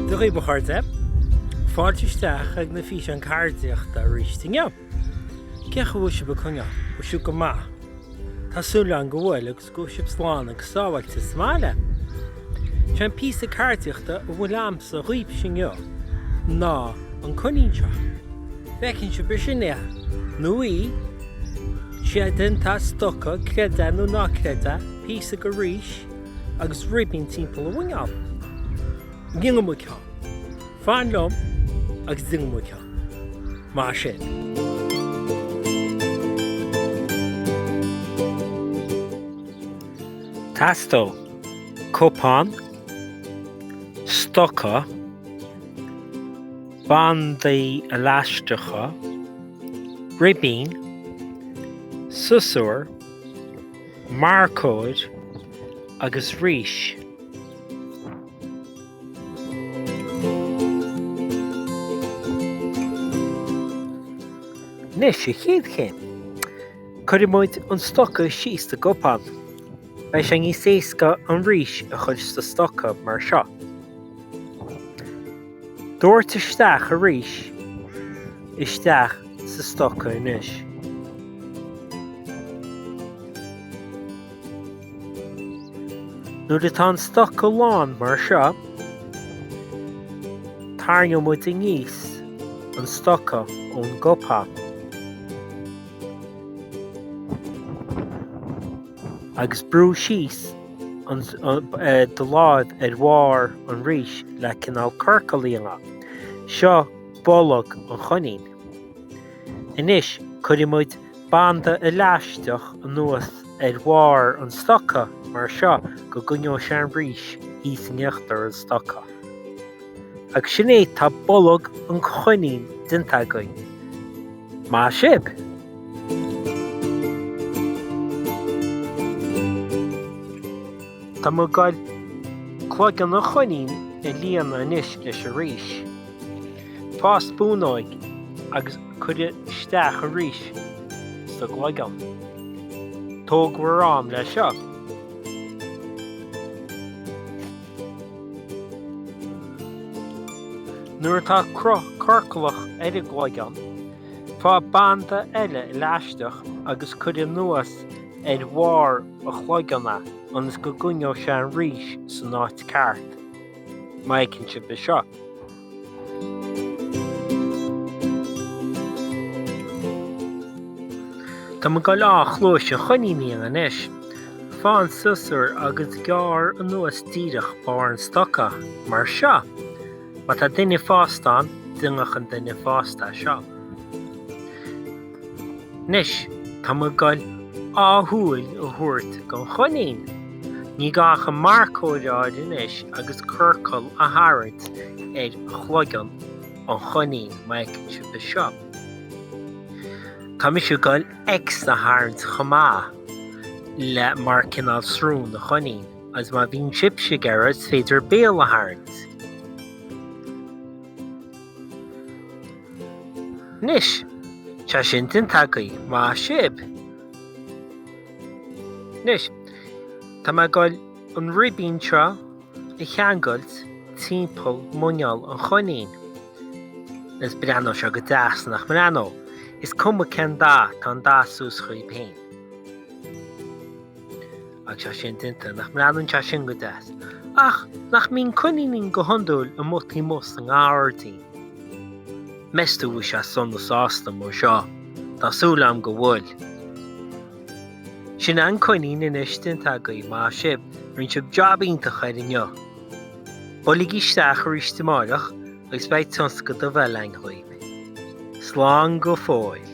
Dia dhaoibh mo chairde! Fáilte isteach ag na físeáin cairdíochta arís inniu! Cén chaoi bhfuil sibh ag coinneáil? Bhfuil sibh go maith? Tá súil agam go bhfuil agus. 'S go raibh sibh slán agus sábháilte sa mbaile. Sén píosa ceardaíochta a bhfuil a'msa dhaoibhse inniu ná an coinín seo. An bhfeiceann sibh, sin é, nó í, tá sé déanta as stoca, creid é nó ná creid é, píosa de rís agus ribín timpeall a mhuineál. Déanfaidh muid ceann. Fan liom agus déanfaidh muid ceann, mar sin. Teastóidh cupán, stoca, bandaí leaisteacha, ribín, siosúr, marcóir agus rís. Anois, sa chéad chéim, cuirfidh muid an stoca síos sa gcupán. Beidh sé níos éasca an rís a chur sa stoca mar seo. Doirt isteach an rís isteach sa stoca anois. Nuair atá an stoca lán mar seo, tairneoidh muid aníos an stoca ón gcupán agus brú síos do láimh ar bharr an rís le cineál ciorcal a dhéanamh. Seo bolg an choinín. Anois, cuirfidh muid. banda leaisteach anuas ar bharr an stoca mar seo go gcoinneoidh sé an rís thíos in íochtar an stoca. Agus sin é, tá bolg an choinín déanta againn. Maith sibh! Tá muid ag goil cloigeann an choinín a líonadh anois leis an rís. Faigh spúnóg agus. Cuir isteach an rís sa gcloigeann. Tógaigí bhur am le seo. Nuair atá cruth ciorclach ar an gcloigeann, faigh banda eile leaisteach agus cuir anuas ar bharr an chloigeann é ionas go gcoinneoidh sé an rís san áit ceart. Má fheiceann sibh é seo. Tá muid ag goil dhá chluais an choinín a dhéanamh anois. Faigh an siosúr agus gearr anuas díreach barr an stoca, mar seo. Má tá duine fásta ann, déanadh an duine fásta seo. Anois, tá muid ag dul dhá shúil a thabhairt don choinín. Ní gá ach an marcóir a fháil anois agus ciorcal a tharraingt ar chloigeann an choinín, má fheiceann sibh é seo. Tá mise ag dul X a tharraingt chomh maith, le, mar cineál srón do choinín, agus má bhíonn sibhse ag iarraidh, is féidir béal a tharraingt. Anois, tá sin déanta agaibh, maith sibh. Anois, tá muid ag goil an ribín seo a cheangailt timpeall muineál an choinín. Is breathnóidh sé go deas, nach mbreathnóidh? Is cuma cén dath, tá an dath suas chugaibh féin. Agus é sin déanta, nach mbreathnaíonn sé sin go deas, ach nach mbíonn coiníní go hiondúil amuigh taobh amuigh sa ngairdín. Meas tú go bhfuil sé sona sásta mar seo? Tá súil agam go bhfuil. Sin an coinín anois déanta agaibh, maith sibh, rinne sibh jab iontach air inniu. Buailigí isteach arís amárach agus beidh tionscadal eile againn dhaoibh. Slán go fóill.